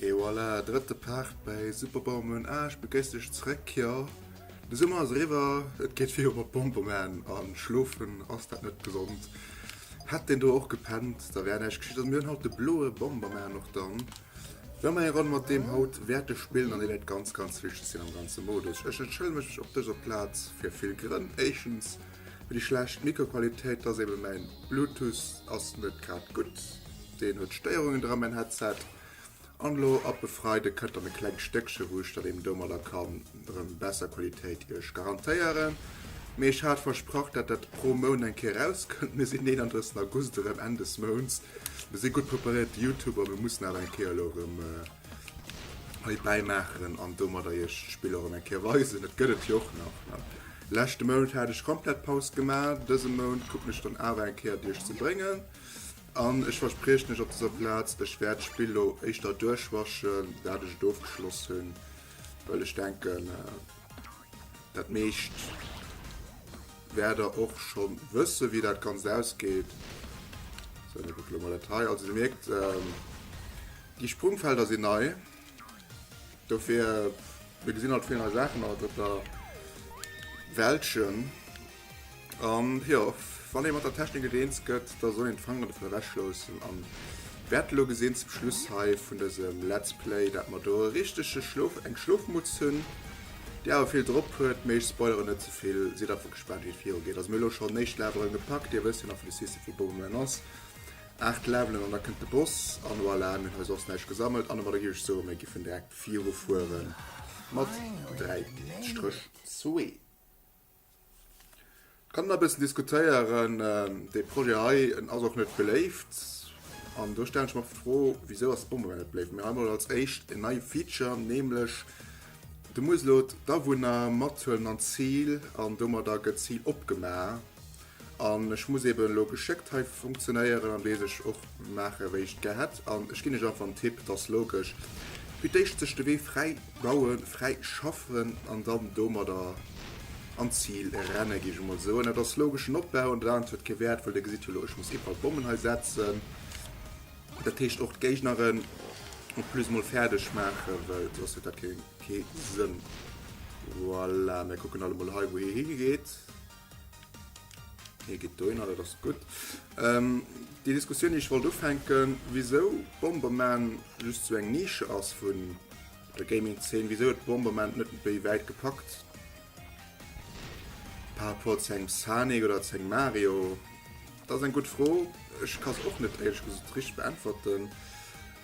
Et voilà, drëtte Part bei Super Bauman A, ech begréiss dech zréck. Jo, de Summer ass eriwwer, et geet viru mat Bomberman a schlofen ass dat net gesond. Hätt deen do och gepennt, da wär näischt geschitt. A mir hunn haut de bloe Bomberman och dann. Well mer eng Ronn mat deem haut wäerte spillen an dee wäert ganz, ganz wichteg sinn am ganze Modus. Ech entschëllege mech op dëser Plaz fir vill Grënn. Éischens. Fir déi schlecht Mikroqualitéit, dass eben mäin Bluetooth ass net grad gutt, deen huet Stéierungen dran, mäin Headset. An elo ab e Freideg kënnt dann e klengt Stéckchen, wou ech dann eben domadder kann erëm besser Qualitéit iech garantéieren. Mee ech hat versprach, dat dat pro Mount eng Kéier erauskënnt. Mir sinn den 31 August erëm, Enn des Mounts. Mir si gutt preparéiert, déi Youtuber, mir mussen awer eng Kéier elo erëm. Hei bäimaachen an domadder iech d'Spill och erëm eng Kéier weisen. Et gëtt et jo och nach. Leschte Mount hat ech komplett Paus gemaach. Dëse Mount kucken ech dann awer eng Kéier et iech ze bréngen. An ech verspriechen iech op dëser Plaz, ech wäert d'Spill elo éischter duerchwaschen, dat ech et ofgeschloss hunn, well ech denken, Dat meescht wäert der och scho wësse wéi dat ganz ausgeet. So, da gucke mal dat hei. Also se merkt ähm, Déi Sprungfelder sinn nei. Dofir mir gesinn alt vill nei Saachen, dat der Weltchen. An jo, wann ee mat der Technik net eens gëtt, da soll een d'Fanger dovun ewechloossen an wäert elo gesinn zum Schluss hei vun dësem Let's Play, dat mer do e richtege Schlof, eng Schlofmutz hunn, déi awer vill drop huet. Mee ech spoileren net ze vill, sidd einfach gespaant, wéi et virugeet. Also mir elo schonn éischt Levelen gepackt, Dir wësst jo nach, wéi de System vu Bomberman ass, 8 Levelen an da kënnt de Boss an voilà, mir hunn hei soss näischt gesammelt. An ëmmer da giff ech soen, mir giffen direkt virufuere mat 3 Stréch. Sweet. Kann een e bëssen diskutéieren. Dee Projet hei, en ass och net beléift. An do stellen ech mer d'Fro, wisou ass e Bonbon net beléift? Mee hei emol als éischt en neie Feature, nämlech, Du muss elo d'Awunner mathuelen an d'Zil an domadder gëtt d'Zil opgemaach. An ech muss eben elo geschéckt hei funktionéieren an dee sech och maachen wéi ech et gär hätt. An ech ginn iech einfach en Tipp, et ass logesch, fir d'éischt sech de Wee fräi bauen, fräi schaffen an dann domadder an d'Zil renne géif ech emol soen. Dat ass logeschen Opbau an dat anert huet kee Wäert, well dir gesitt jo elo, ech muss iwwerall Bommen hei setzen, dat heescht och d'Géigneren en plus emol fäerdeg maachen, well soss huet dat kee Sënn. Voilà, mir kucken alt emol hei, wou hie higeet. Hie geet dohinner, dat ass gutt. Déi Diskussioun, déi ech wollt ufänken, wisou Bomberman just esou eng Nische ass vun der Gaming-Zeen, wisou huet Bomberman et net méi wäit gepackt par rapport zu engem Sonic oder zu engem Mario? Dat ass eng gutt Fro. Ech ka se och net éierlech gesot richteg beäntwerten.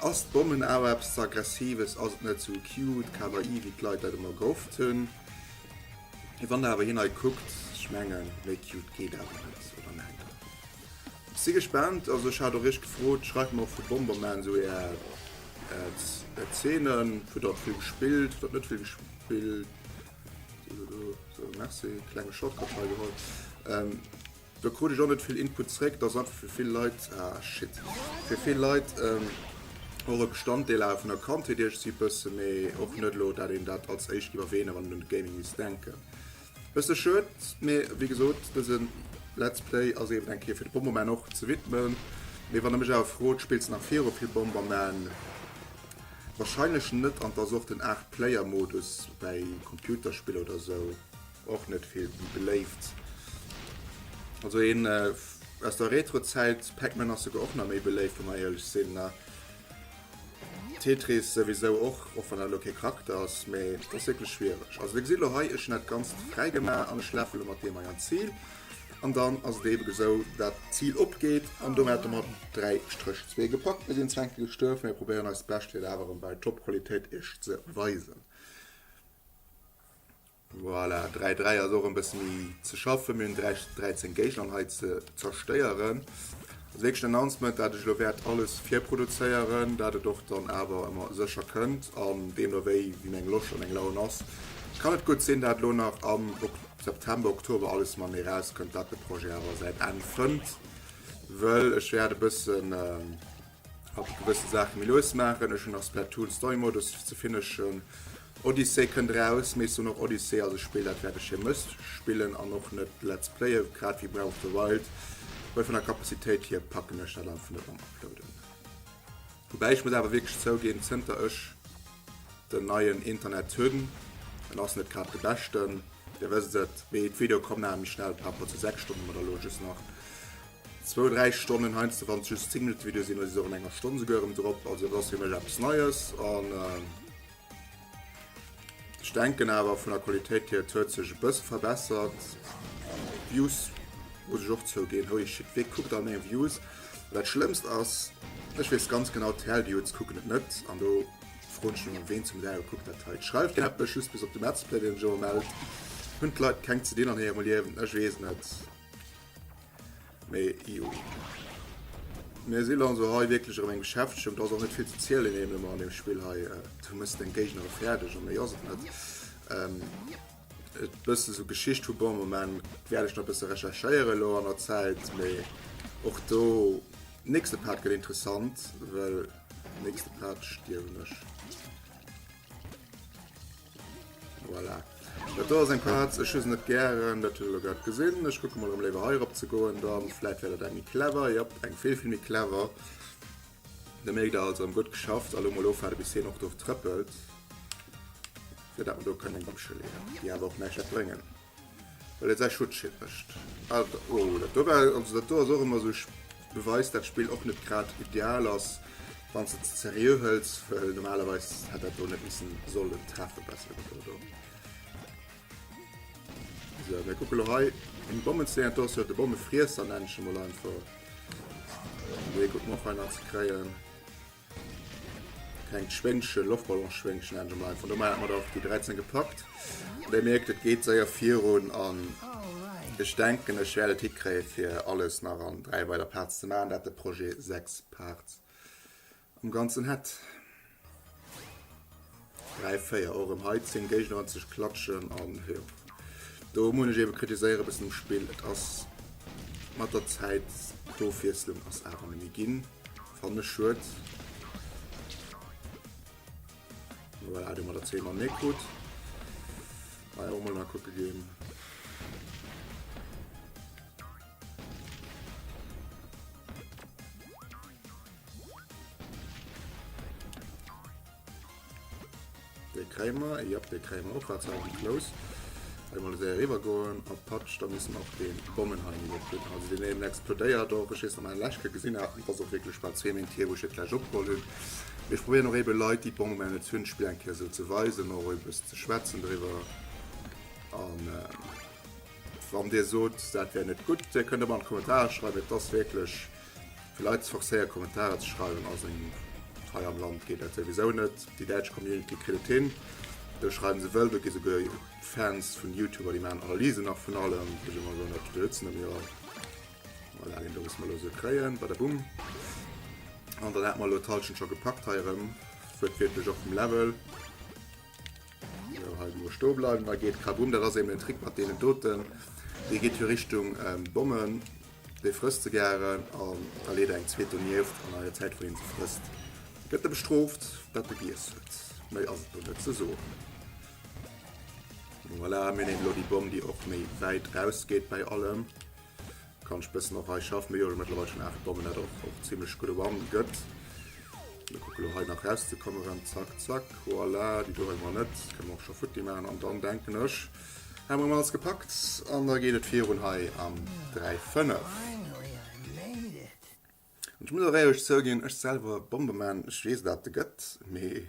Ass d'Bommen awer eppes ze Aggressives? Ass et net esou cute, Kawaii, wéi d'Leit dat ëmmer gehofft hunn? Mee wann der awer hien hei kuckt, ech mengen, méi cute geet awer net, oder mengt der? Ech si gespaant. Also ech hat och iech gefrot, schreift mer och vu Bomberman sou är Zeenen, vu der et vill gespillt, der et net vill gespillt, sou, sou, merci, klenge Shortcut hei geholl. Do krut ech och net vill Input zréck. Dass einfach fir vill Leit, ah shit, fir vill Leit och e Bestanddeel awer vun der Kandheet iech si bësse méi och net elo dat een dat als éischt giff erwähnen wann een un Gaming misst denken. Bësse schued, mee wéi gesot dësen Let's Play ass eben eng Kéier fir de Bomberman och ze widmen. Mee wann der mech awer frot, spills de nach viru vill Bomberman? Wahrscheinlech net an et ass och den 8 Player Modus bei Computerspiller oder sou. och net vill beléift. Also een äh, aus der Retro-Zäit, Pac-Man ass sogar och nach méi beléift, wa mer éierlech sinn. Na. Tetris souwisou och, och wann dat elo kee Charakter ass, mee dat ass wierklech schwiereg. Also, Dir gesitt elo hei, ech hunn dat Ganzt fräi gemaach an ech lafe lo mat deem hei an d'Zil. An dann ass et eeben esou, dat d'Zil opgeet an domat hätte mer dräi Stréch zwee gepackt. Mir sinn zwar eng Kéier gestuerf, mee probéieren eist Bescht, fir et awer erëm bei Top-Qualitéit Iech ze weisen. Voilà, 3, 3 ass och en bësse méi ze schaffen. Mir hunn 3, 13 Géigner an hei ze zerstéieren. Als éischten Announcement, dat ech elo wäert alles virproduzéieren, dat et och dann awer ëmmer sécher kënnt. An deemno wéi wien eng Loscht an eng Laun ass, kann et gutt sinn, dat elo nach am September, Oktober alles mam Mee erauskënnt, dat de Projet awer säin Enn fënnt, wëll ech wäert e bëssen Hatt huet gewësse Saache méi lues maachen. Ech hunn nach Splatoon Story Modus ze finishen. Odyssey kënnt eraus, Maze Runner Odyssey ass e Spill, dat wäert ech hir Mësst spillen an och net Let's Playen, grad wéi Breath of the Wild, well vun der Kapazitéit hir packen ech dat einfach net mam Uploaden. Woubäi ech muss awer wierklech zouginn, zënter ech den neien Internet hunn, en ass net grad de beschten, Dir wësst et, mee d'Videoe kommen awer méi schnell par rapport zu 6 Stonne, mat elo just nach Zwou, dräi Stonnen heiansdo, wann et just 10 Minutte Video sinn, oder si se och an enger Stonn souguer erëm drop. Also et ass fir mech eppes Neies an ech denken awer vun der Qualitéit hier, et huet sech e bësse verbessert. Views, muss ech och zouginn, holy shit, wee kuckt all meng Views? An dat Schlëmmst ass, ech weess ganz genau, d'Hell-Dudes kucken et net an do froen ech mech ëmmer, ween zum Däiwel kuckt dat hei? Schreift gär eppes, just bis op de Metzplay, deen ech ëmmer mellt. Hunn d'Leit keng ze dinn an hirem Liewen? Ech weess net. Mee jo. Mir sinn also hei wierklech erëm eng Geschäftschent, ass och net vill ze zielen neem ëmmer an dem Spill hei. Äh, du mëss deng Géigner fäerdeg a méi ass et net. Ähm, et bësse esou Geschicht vu Bomberman wäert ech nach bësse recherchéieren elo an der Zäit, mee och do nächste Part gëtt interessant, well nächste Part stierwen ech. Voilà. Dat do ass eng Katz, ech hu se net gären, dat hutt der lo grad gesinn. Ech kucke mol, em léiwer heirop ze goen, dann vläit wär dat eng méi clever, jop, eng vill, vill méi clever. Da mierkt der also, em gutt geschafft a lo mol ofwaarde bis hien och do trëppelt, fir dat mer do kënnen eng Bamscheleeën, déi awer och näischt wäert bréngen. Well et säi Schutzschild mécht. Alter, oh, dat do war, also dat do ass och ëmmer esou, beweist dat d'Spill och net grad ideal ass, wann s de et ze seriö hëls, well normalerweis hätt dat do net missen sollen treffen, bessere Gebrauch do. Sou, mir kucke lo hei, en Bommensteen, do ass jo de Bommefriesser, nennen ech e mol einfach, fir e gutt Morph hei nach ze kréien. Klengt Schwéngchen, Loftballonschwéngchen nennen se mer einfach. Domat hat mer der déi 13 gepackt. An Dir mierkt, et geet séier virun an ech denken, ech wäert et hikréien, fir alles nach an dräi weider Parts ze maachen, dat de Projet sechs Parts am Ganzen hätt. Dräi, véier, och erëm hei 10 Géigner an ze klatschen an jo, do muss ech eebe kritiséieren, e bëssen um Spill. Et ass mat der Zäit, d'Ofwiesslung ass awer méi ginn, fannen ech schued. Voilà, do mat der 10 mam Nékut hei och mol nakucke ginn. De Kräimer, jop de Kräimer och hat selwen Flous. Wei mer esou eriwwer goen op d'Patsch da missen och den Bommen hei emol op gin. Also den eenen explodéiert och, ech wees nach meng Läschke gesin hat, an et ass och wierklech bal zwee Méint hier wou ech et läscht opgeholl hun. Mee ech probéieren och eben Leit déi d'Bommen bei eis hun d'Spill eng Kéier esou ze weisen, och e bëssen ze schwätzen driwwer an wann dir soot dat wär net gudd, dir kënnt ëmmer an d'Kommentarer schreiwen, et ass wierklech. Fir Leit ze forcéieren Kommentarer ze schreiwen ass een hei am Land geet dat souwisou net. Déi däitsch Community kritt et hin, do schreiwen se wëll, do gi souguer Fans vun Youtuber déi maachen Analysen nach vun allem, do si mer elo net, do sëtzen elo jo mol dat een do muss mer elo sou kréien, badabumm. An dann hat mer elo d'Hallschent scho gepackt hei erëm, huet wierklech och vum Level, sou hei elo stoe bleiwen, da geet kabumm, dat ass eben den Trick mat deenen doten, dee geet jo Richtung Bommen. Dee frësst ze gären an da leet eng zweet donieft an an der Zäit, wou hien se frësst, gëtt e bestrooft, datt e giess huet. Méi ass et do net ze soen. Voilà, mir nemen elo déi Bomm, déi och méi wäit rausgeet bäi allem. Kann ech bëssen och hei schaffen, mee jo, ech hu mëttlerweil schon 8 Bommen, dat och och zimlech gutt One gëtt. Mir kucken elo hei nach rauszekommen, zack, zack, voilà, déi do wëlle mer net, kënne mer och scho futti maachen an dann denken ech, Hei mer alles gepackt an da geet et virun hei am 3 5. An ech muss och éierlech zouginn, ech selwer Bombeman, ech weess dat de gëtt, mee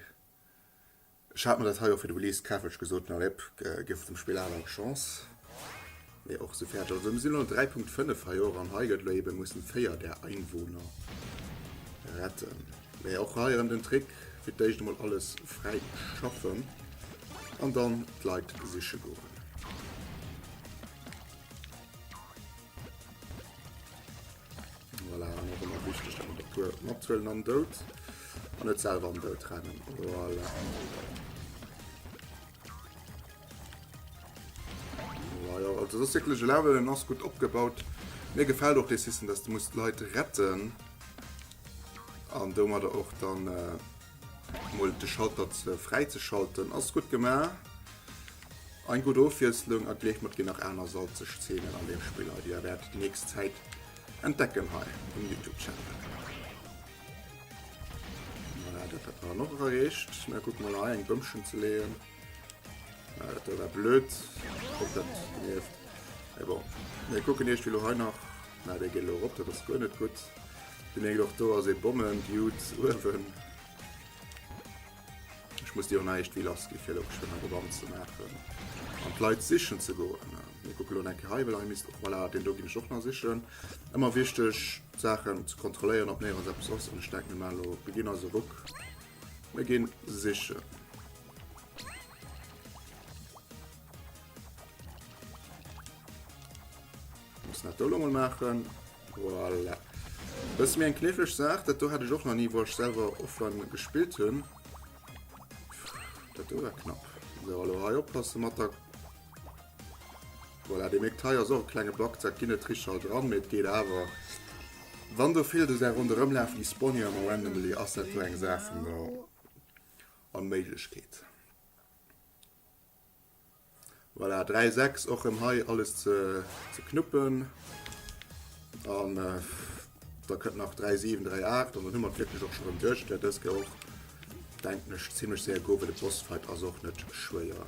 ech hat mer dat hei och fir de Release kaf, well ech gesot hunn, allez op, giff dem Spill awer eng Chance. Mee och esou fäerdeg. Also mir sinn elo no 3.5 hei och an hei gëtt elo eeben, mussen 4 där Einwohner retten. Mee och hei erem den Trick, fir d'éischt emol alles fräi schaffen an dann d'Leit siche goen. matzuelen am Dout an net selwer am Dout rennen. Voilà. Voilà, also das wirklich Level ass gut opgebaut. Mir gefällt auch de System, dass du musst Leute retten. An domadder och dann mol de Schalter ze fräi ze schalten. Ass gutt gemaach. Eng gutt Ofwiesslung a gleeft mer, et ginn nach aner salzeg Zeenen an deem Spill hei, déi der wäert déi nächst Zäit entdecken hei um Youtube Channel. Voilà, dat hat mer dann och erareecht. Mä kucke mol hei, eng Bëmchen ze leeën. Ah, dat war blöd. Ob dat nervt. Ja, bon. Wir gucken erst, wie hei nach. Na, der geht noch op, dat ass guer net gutt. Du mengst och do ass e Bommen, Dude, uewen. Ech muss dir och näischt wie lass gi fir op schwënner Gewann ze maachen. An d'Leit sichen ze goen. Mir gucken lo enke hei, well hei misst och voilà, den do ginn ech och nach sichen. Ëmmer wichteg, d'Saachen ze kontrolléieren, ob néierens eppes ass. An ech denken, mir maache lo, beginn eise Ruck. Mir ginn sichen. Muss nach do lo mol maachen. Voilà. Dat ass mir eng kniffleg Saach, dat do hat ech och nach ni wou ech selwer offline gespillt hunn. Dat do war knapp. So, allo hei oppasse mat der Voilà, dir mierkt, hei ass och e klenge Bug, dat ginn net richteg all dran, mee et geet awer. Wann do vill do säi Ronderëmlafen, déi spawnen jo ëmmer randomly, ass dat do eng Saach vun der Onméiglechkeet. Voilà, 3, 6, och rëm hei alles ze knuppen. An da kënnt nach 3, 7, 3, 8 an dann hu mer et wierklech och scho rëm duerch. Där dëske och, denken ech, zimmlech séier go, well de Bossfight ass och net schwéier.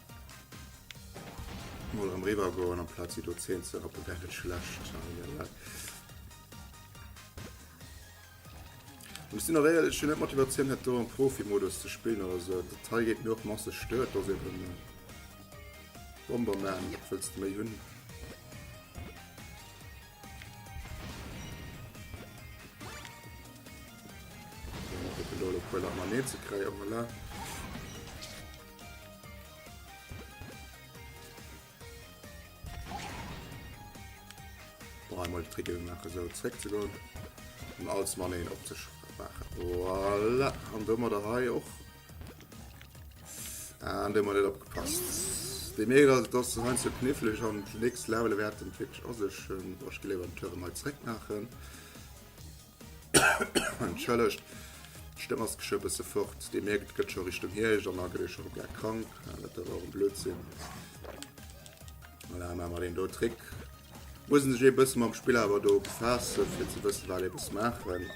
Mol rem riwer goen am Platz si do 10 ze rappen wär net schlecht. Muss sinn eréiert ech hun net Motivatioun het do am Profi-Modus ze spillen oder sou. De Teil geet mir och masseg stört dass eben den Bomberman wëlls méi hunn. Sou, ech probéieren elo e puer Lach mam Neel ze kréien, voilà. Boah, mal die Tricke machen, so zurück zu gehen und alles mal einen auf sich machen. Voilà, und dann mal hier auch. Ah, und dann mal nicht abgepasst. Die Mega, also das ist so knifflig und nächstes Level werden wirklich auch sich, ähm, ich glaube, die Türen mal zurück machen. Entschëllegt, d'Stëmm ass geschwë bësse fort. Dir mierkt, et gëtt scho Richtung Hierscht an da gëtt ee scho komplett krank. Dat dierf awer Blödsinn. Voilà, maache mer deen do Trick. Muss een sech ee bësse mam Spill awer do befaassen, fir ze wëssen, wat ee muss maachen.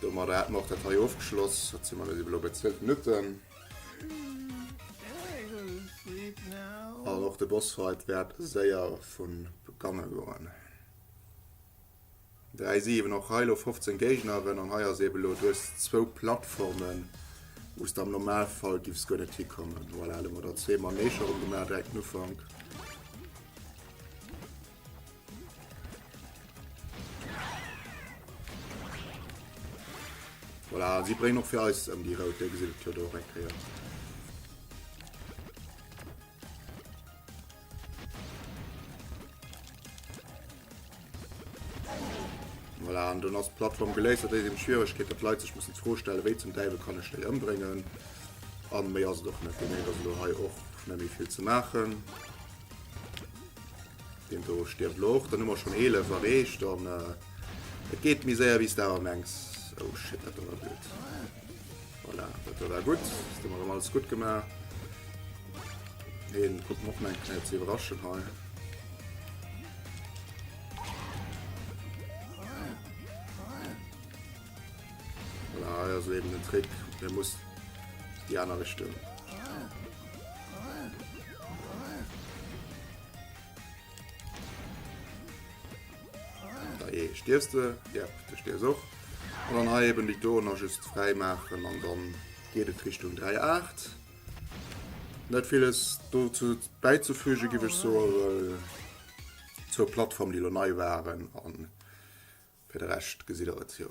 Domadder hätte mer och dat hei ofgeschloss. Wat si mer? Mir si elo bei 12 Minutten. An och de Bossfight wäert séier vu beganne goen. Dräi Siewen, och hei elo 15 Géigneren an hei ass eben elo, du hues zwou Plattformen, wou s de am Normalfall giffs guer net hikommen. Voilà, elo hu mer der zwee Manéger erëm gemaach direkt den Ufank. Voilà, si bréngen och fir eis ëm déi rout, déi gesiddelt huet och eng Kéier. Voilà, an dann ass die Plattform geléist. Dat ass eben d'Schwieregkeet, dass d'Leit sech mussen d'Fro stellen, wéi zum Däiwel kann ech déi ëmbréngen? An méi ass et och net. Deemno ass elo hei och net méi vill ze maachen. Den do stirbt elo och. Dann hu mer schon 11 erreecht an äh, et geet méi séier wéi s de awer mengs. Oh shit, dat do war blöd. Voilà, dat war da gutt. Dat hu mer erëm alles gutt gemaach. Deen kommt och meng Knäpp ze iwwerraschen hei. Voilà, hei ass eben den Trick. Der muss die aner Richtung. Dajee stierfs de, jep, du stierfs och. An dann hei eben déi Doner just fräi maachen an dann geet et Richtung 3, 8. Net villes dozou bäizefüge giff ech soe, well zwou Plattformen déi elo nei waren an fir de Rescht gesitt der et jo.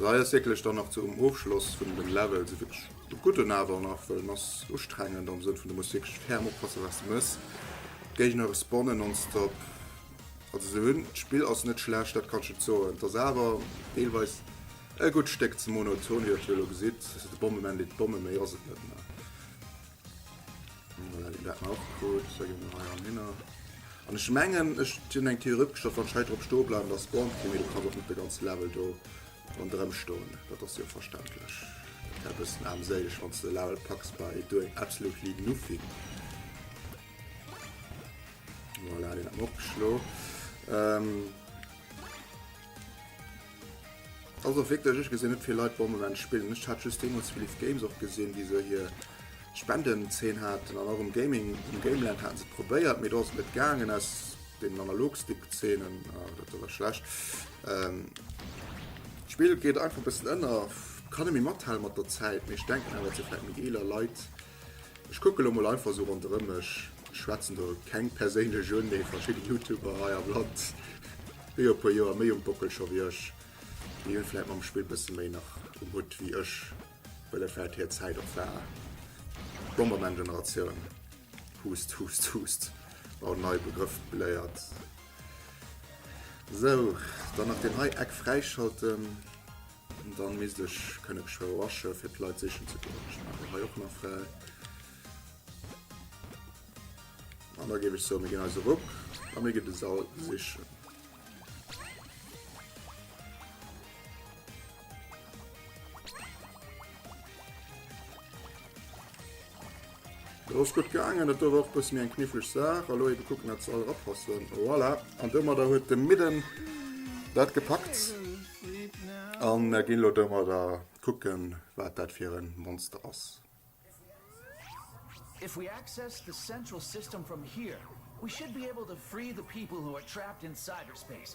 Hei ass wierklech dann nach zum Ofschloss vun dem Level sou wierklech e gudden awer nach, well en ass ustrengend am Sënn vun du muss wierklech ferm oppasse wat s de mëss. D'Géigner respawnen nonstop. Also se hunn, d'Spill ass net schlecht, dat kann ech net soen. Et ass awer deelweis e gutt Stéck ze monoton, wéi der Titel elo gesitt. De Bombement deet d'Bomme, méi ass et net. An ech mengen ech hunn eng Theorie opgestallt, wann ech hei drop stoe bleiwen, da spawnt kee méi. Do kann och net de ganze Level do rondrëm stoen. Dat ass jo verständlech. Dat wär e bëssen aarmséileg, wann s de de Level packs by doing absolutely nothing. Voilà, deen hat mer och geschloen. Also wierklech, ech gesinn net vill Leit dom Moment spillen. Ech hat just deemools vill Live Games och gesinn, déi esou hir Spendenzeen haten an och um Gaming, um Gameland haten se et probéiert, mee do ass et net gaangen aus deenen Analog-Stick-Zeenen. Ah, dat do war schlecht. D'Spill geet einfach e bëssen ënner. Kann e méi mathale mat der Zäit, mee ech denken awer, et si vläicht méi eeler Leit, Ech kucke lo mol einfach sou ronderëm mech, schwätzen do keng perséinlech un, mee verschidde Youtuber hei am Land, déi jo e puer Joer méi um Bockel scho wéi ech, déi hunn vläit mam Spill bësse méi nach um Hutt wéi ech, well et vläit hir Zäit och war. Bomberman-Generatioun, Hust, Hust, Hust, oh nei Begrëff geléiert. Sou, dann nach deen hei Eck fräischalten. Dann misst ech kënne Geschwéier wasche fir d'Leit sichen ze goen. Ech maachen hei och nach fräi. An da géif ech soen, mir ginn eise Ruck a mir ginn de Sall sichen. Do ass gutt gaangen. Et dower och bësse méi eng kniffleg Saach. Elo ebe kucken dat se all rapassen. Voilà. An domadder huet de Midden dat gepackt. A mer ginn elo domadder kucken, wat dat fir e Monster ass. If we access the central system from here, we should be able to free the people who are trapped in cyberspace.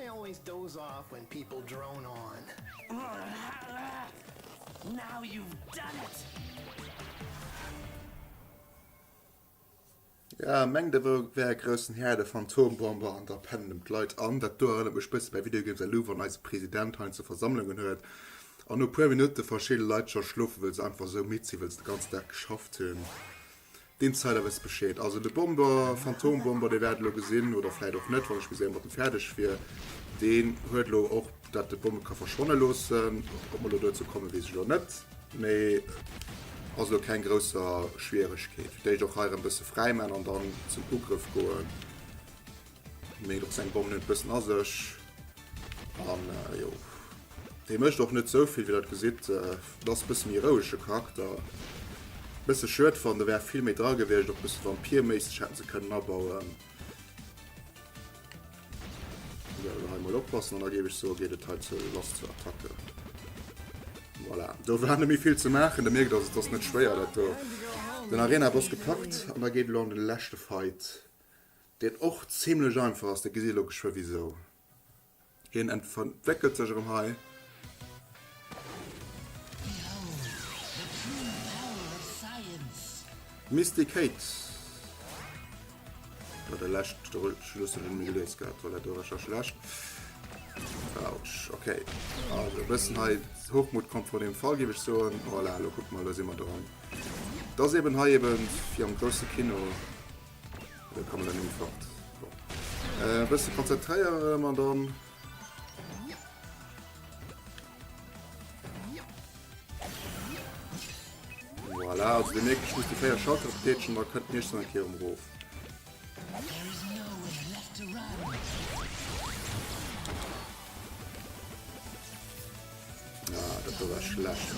I always doze off when people drone on. Now you've done it! Ja, mengt der wou wär e groussen Här de Phantombomber an da pennen em d'Leit an. Dat do erënnert mech bësse bei Videogames elo wann eise President heiansdo Versammlungen huet an no puer Minutte verschidde Leit scho schlofen wëll se einfach esou midd sinn wëll se de ganzen Dag geschafft hunn. D'Insider wësse Bescheed. Also de Bomber, Phantom Bomber, Dir wäert elo gesinn, oder vläit och net, wann ech méi séier mat em fäerdeg wier, deen huet elo och dat de Bomme ka verschwanne loossen. Ob mer elo dozou kommen, weess ech elo net, mee ass elo keng grousser Schwieregkeet. Fir d'éischt och hei erëm bësse fräiman an dann zum Ugrëff goen. Mee och seng Bomm huet bëssen a sech. An jo. Dee mécht och net sou vill, wéi dat gesitt. Et ass e bësse méi rouege Charakter. Bësse schued fannen, do wär vill méi dra gewiescht. Och bësse Vampir-méisseg hätte se kënnen abauen. Sou, elo hei mol oppassen an da géif ech soe geet et hei zur Last zur Attacke. Voilà. Do war net méi vill ze maachen. Der mierkt also, et ass net schwéier dat do. Den Arena-Boss gepackt an da geet elo an de leschte Fight. Dat och zimlech einfach ass, da gesitt ee lo geschwë wisou. Hien entwéckelt sech erëm hei. Misty Kate, bei der lescht Schlussel hunn mir geléist gehat, Toilette Recherche lescht. Autsch, ok. Also e bëssen hei Hochmut kommt vor dem Fall géif ech soen. Voilà, lo kucke mer, lo si mer dran. Et ass eeben hei eeben wéi am grousse Kino. Dann kann man dann einfach äh, ein bisschen konzentrieren, Madame. Voilà, also den nächsten muss die Feier Schatten tätschen, man könnte nicht so einen Kehr umrufen. Ja, das war schlecht.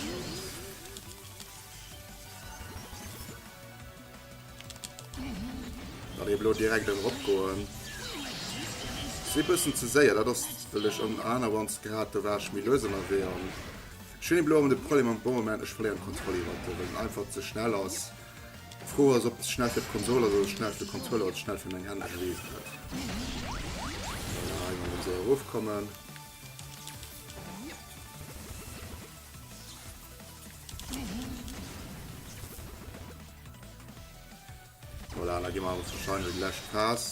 Well ech elo direkt eng erop goen. Si bëssen ze séier, dat ass wëll ech ëm anerwands grad do war ech méi lues ënnerwee an ech hunn elo de Problem am Boweman ech verléieren d'Kontroll iwwert de well en einfach ze schnell ass. D'Fro ass ob ze schnell fir d'Konsol ass oder ze schnell fir de Controller oder ze schnell fir meng Hänn ech weess et net. Voilà eng Run esou erof kommen. Voilà, da gi mer awer wahrscheinlich die lescht Phas.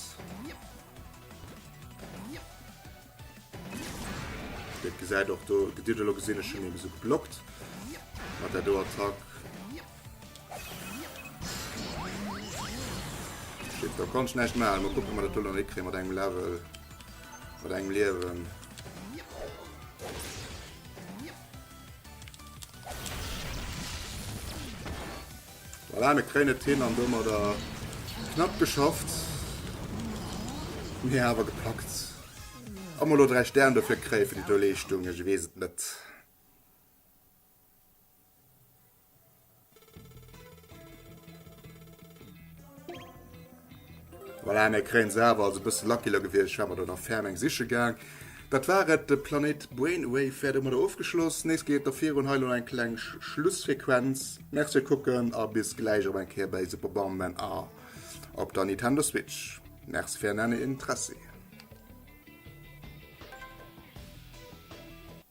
Dat gesäit och do Gedidelo gesinn ech schon eben so geblockt. Mat der do Attack. Shit, da kann ich näischt machen. Mal gucken, ob wir das noch hinkriegen mit engem Level. Mit engem Leben. Voilà, mir kréien et hin an domadder knapp geschafft. Mir awer gepackt. Ob mer elo 3 Stern dofir kréie fir déi do Leeschtung, ech weess et net. Voilà, mir kréien se awer. Also e bësse Luckylor gewiescht, ech war mer do nach ferm eng siche gaang. Dat war et, de Planéit Brainwave wäert domadder ofgeschloss. Nees geet et da virun, hei elo nach eng kleng Schlussfrequenz. Merci fir d'Kucken a bis gläich op eng Kéier bei Super Bomberman a op der Nintendo Switch. Merci fir ären Interessi.